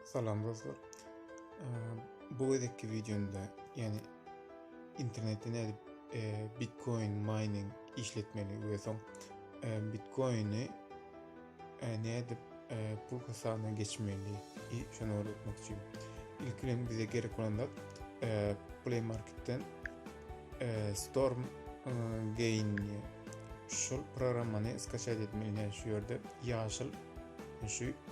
Salam dostlar. Bu gezekki videomda, ýani internetde nädip Bitcoin mining işletmeli we soň Bitcoini nädip pul hasabyna geçmeli, şony öwretmek üçin. Ilki bilen bize gerek bolan zat Play Marketden Storm Gain şu programmany skaçat etmeli, şu ýerde ýaşyl şu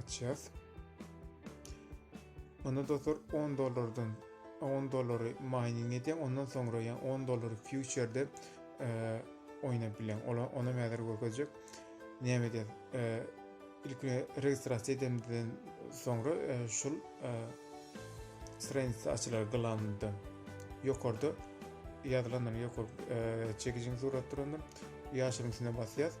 açýas. Onda dostlar 10 dollardan 10 dollary mining edýän, ondan soňra ýa 10 dollary future-de e, oýnap bilen. Ola ona mäzir görkezjek. Näme diýär? E, ilk registrasiýa edenden soňra e, şul e, stranitsa açylar glamda. Ýokarda ýazylanlar ýokary e, çekijiň suratlarynda ýaşyryň üstüne basýas.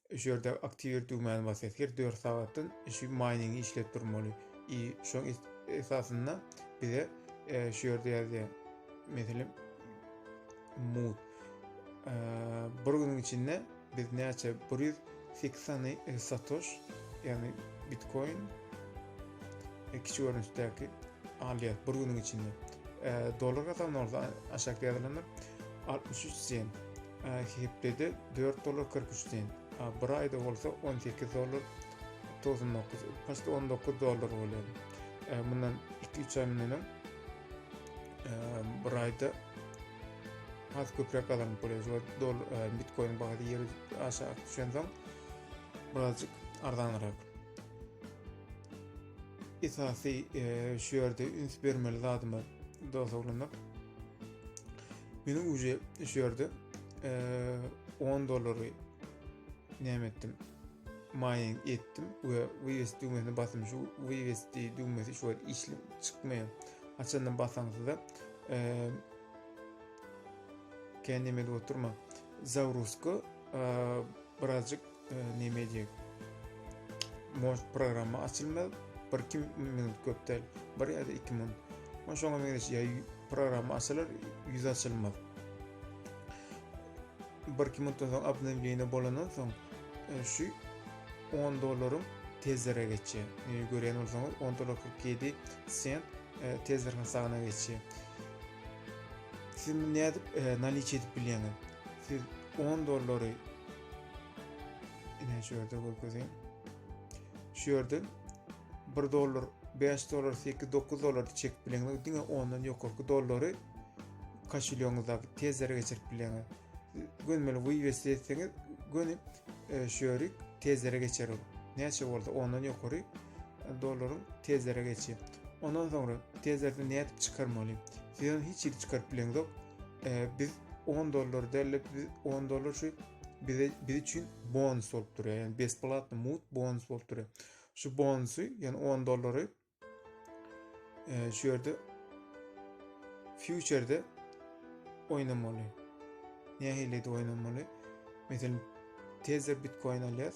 Şu ýerde aktiwir düwmäni basýas. Her dört sagatdan şu maýningi işläp durmaly. I şoň esasynda bize e, şu ýerde ýazýar. Meselem, mut. E, bir günüň içinde biz näçe 100 fiksany e, satoş, ýagny bitcoin e, kiçi görnüşdäki alýar bir günüň içinde. E, dolar hasabyna bolsa aşakda ýazylanlar 63 sen. Hepdede dört dollar kyrk üç sent, a bir aýda bolsa on sekiz dollar togsan dokuz, başda on dokuz dollar bolýar. Mundan iki üç aý mundan öň bir aýda has köpräk gazanyp bolýar. Şol dollar bitkoin bahasy ýeri aşak düşensoň birazjyk arzanrak. Esasy şu ýerde üns bermeli zadymyz dosaglynyk. Meniň uje şu ýerde 10 dollary näme etdim? Maýyň etdim we wywest düwmesini basym. Şu wywest düwmesi şu wagt işlip çykmaýar. Açandan basaňyzda eee kendi edip oturma. Zawruska birazcık Neme diýip? Moş programma açylmaz. Bir kim minut köpdel. Bir ýa-da iki minut. Oň şoňa meňzeş ýa programma açylar, ýüz açylmaz. Bir kim minutdan soň abnewleniýe bolandan soň e, şu 10 dollaryň tezlere geçýär. E, görýän bolsaňyz 10 dollar 47 sent e, tezler hasabyna geçýär. Siz nädip e, naliç edip bilýäňiz? Siz 10 dollary Ine şu ýerde görkezýän. Şu ýerde 1 dollar, 5 dollar, 8, 9 dollar çek bileňiz. Diňe ondan ýokarky dollary kaşilýoňyzda tezlere geçirip bileňiz. Gönmeli wywest etseňiz, göni e, şu ýeri tezlere geçerim. Näçe bolsa ondan ýokary e, dollaryň tezlere geçýär. Ondan soňra tezlerden nädip çykarmaly? Sizden hiç ýeri çykaryp bileňiz ýok. e, biz 10 dollar derlip biz 10 dollar şu bize biz üçin bonus bolup durýar. Yani besplatny mut bonus bolup durýar. Şu bonusy, yani 10 dollary e, şu ýerde future-de oýnamaly. Nähili-de oýnamaly? Meselem, Tether Bitcoin alýas.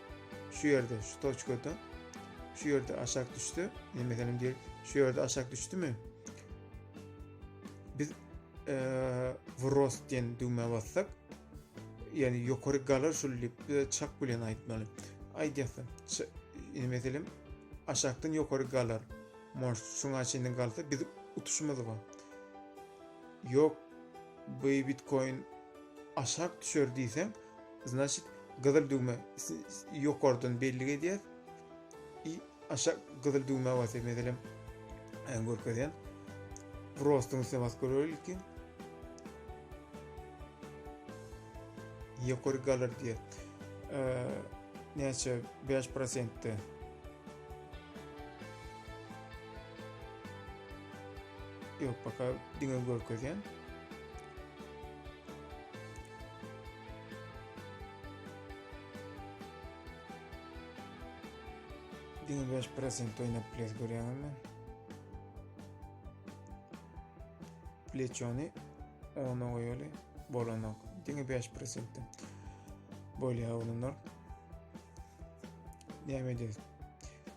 Şu ýerde, şu toçkada, şu ýerde aşak düşse, ne meselem diýip, şu ýerde aşak düşdümi? Biz e, wrost diýen düwmä bassak, ýani ýokary galar şul diýip, biz çak bilen aýtmaly. Aýdýarsa, ne meselem, aşakdan ýokary galar. Moş şuňa çenli galsa, biz utuşmaz bu. Ýok, bu bitcoin aşak düşer diýseň, Значit gyzyl düwme ýokardan bellik edýär. I aşak gyzyl düwme basyp meselem äň görkezýän. Prostyň üstüne basyp göreli ilki. Ýokary galar diýär. Näçe 5%-de Yok baka diňe görkezýän. Dini beş pressing oynap ples görýäňiz men. Pleçony ona goýaly bolanok. Dini beş pressingde. Bolýa olanlar. Näme edýäs?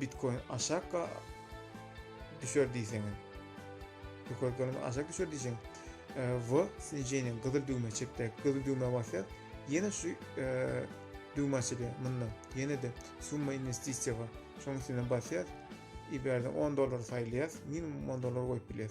Bitcoin aşakka düşer diýseňiz. Ýokary görnüşde aşak düşer diýseň, we snijeniýa gyzyl düwme çepde gyzyl düwme basýar. Ýene şu düwme açylýar mundan. Ýene de summa investisiýa bar. Şonuň üstüne basýar. Iberden 10 dollar saýlaýar. Minimum 10 dollar goýup bilýär.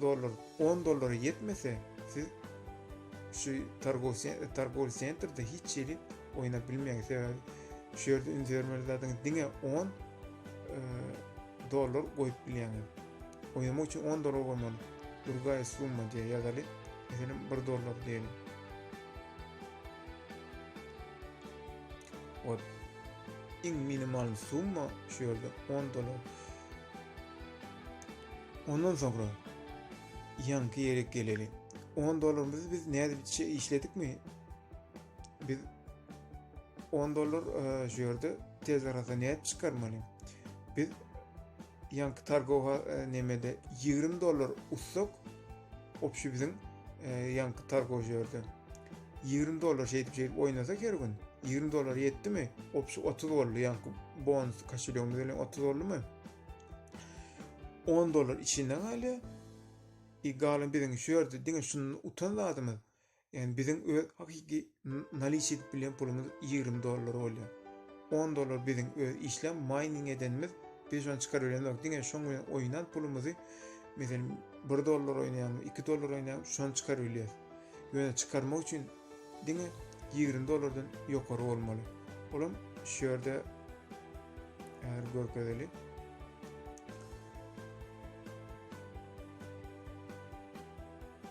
Dollar on dollara ýetmese siz şu targowy sentrde hiç hili oýnap bilmeýäňiz. Sebäbi şu ýerde üns bermeli zadyňyz diňe 10 e, dollar goýup bilýäňiz. Oýnamak üçin 10 dollar goýmaly. Durgaý summa diýe ýazaly. Meselem 1 dollar diýeli. Ot. Iň minimal summa şu ýerde 10 dollar. Ondan soňra ýaňky ýere geleli. 10 dollarymyzy biz nädipçe işledikmi? Biz 10 dollar e, şu ýerde tez arada nädip çykarmaly? Biz ýaňky targowa e, nemede 20 dollar utsak, Opşi biziň e, ýaňky targow ýerde. 20 dollar şeýdip şeýdip oýnasak her gün 20 dollar ýetdimi? Opşi 30 boldy ýaňky bonus kaşelýogymyz bilen 30 boldumy? 10 dollar içinde galýar. I galan biziň şu ýerde diňe şundan utan zadymyz. Ýagny biziň öz hakyky naliç edip bilýän pulumyz ýigrimi dollar bolýar. On dollar biziň öz işläp maýning edenimiz, biz şony çykaryp bilemizok. Diňe şoň bilen oýnan pulumyzy, meselem, bir dollar oýnaýarmy, iki dollar oýnaýarmy, şony çykaryp bilýäris. Ýöne çykarmak üçin diňe ýigrimi dollardan ýokary bolmaly. Olam şu ýerde häzir görkezeli.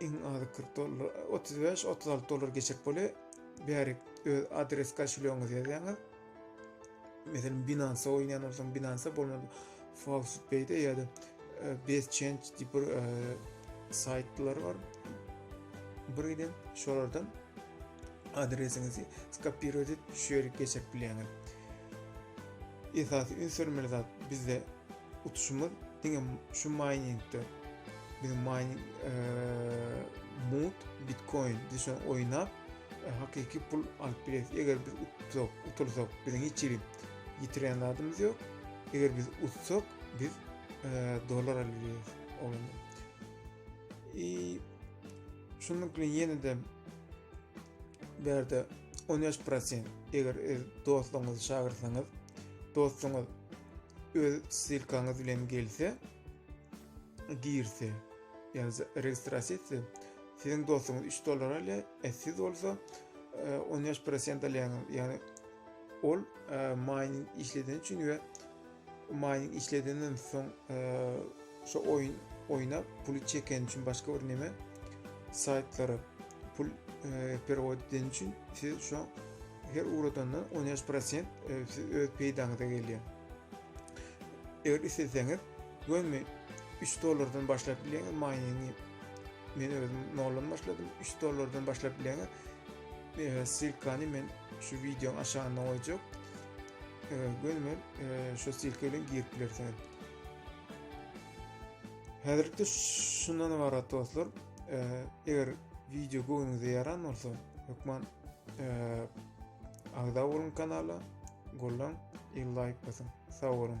Iň azy 40 dollar, 35-36 dollar geçip bole bärik öz adres kaşulyoňyzy ýazýaňyz. Meselem Binance oýnaýan bolsaň Binance bolmady. Falsipay'de ya da e, Best Change diýip bir e, saytlar var. Bir giden şolardan adresinizi skopirowat edip şu ýere geçirip bilýäňiz. Esasy üns bermeli zat bizde Utuşymyz diňe şu miningde biziň mining mut bitcoin düşen oýnap hakyky pul alyp bileris. Eger biz utsak, utulsak biziň hiç hili ýitiren zadymyz ýok. Eger biz utsak biz dollar alyp bileris. Onuň. I şunuň bilen ýene de berde 13% eger dostlaryňyzy çagyrsaňyz dostlaryňyz öz ssilkaňyz bilen gelse girse yani registrasiýa etse siziň dostuňyz 3 dollar alýar e siz bolsa 15 e, prosent alýaňyz ýagny ol e, mining işleden üçin we mining işledenden soň e, Şo oýun oýnap puly çekeni üçin başga bir neme saýtlara pul e, perewod edeni üçin siz şo her uradandan 13% e, siz öz peýdaňyza gelýär. Eger isleseňiz gömi 3 dollardan başlap bileňiz miningi men özüm noldan başladym 3 dollardan başlap bileňiz e, silkany men şu wideonyň aşagynda goýjak e, gömi e, şu silka bilen girip bilersiňiz Häzirlikde şundan ibarat dostlar. Eger video göwnüňize ýaran bolsa, hökman agza boluň kanala, gollan, il laýk basyň. Sag boluň.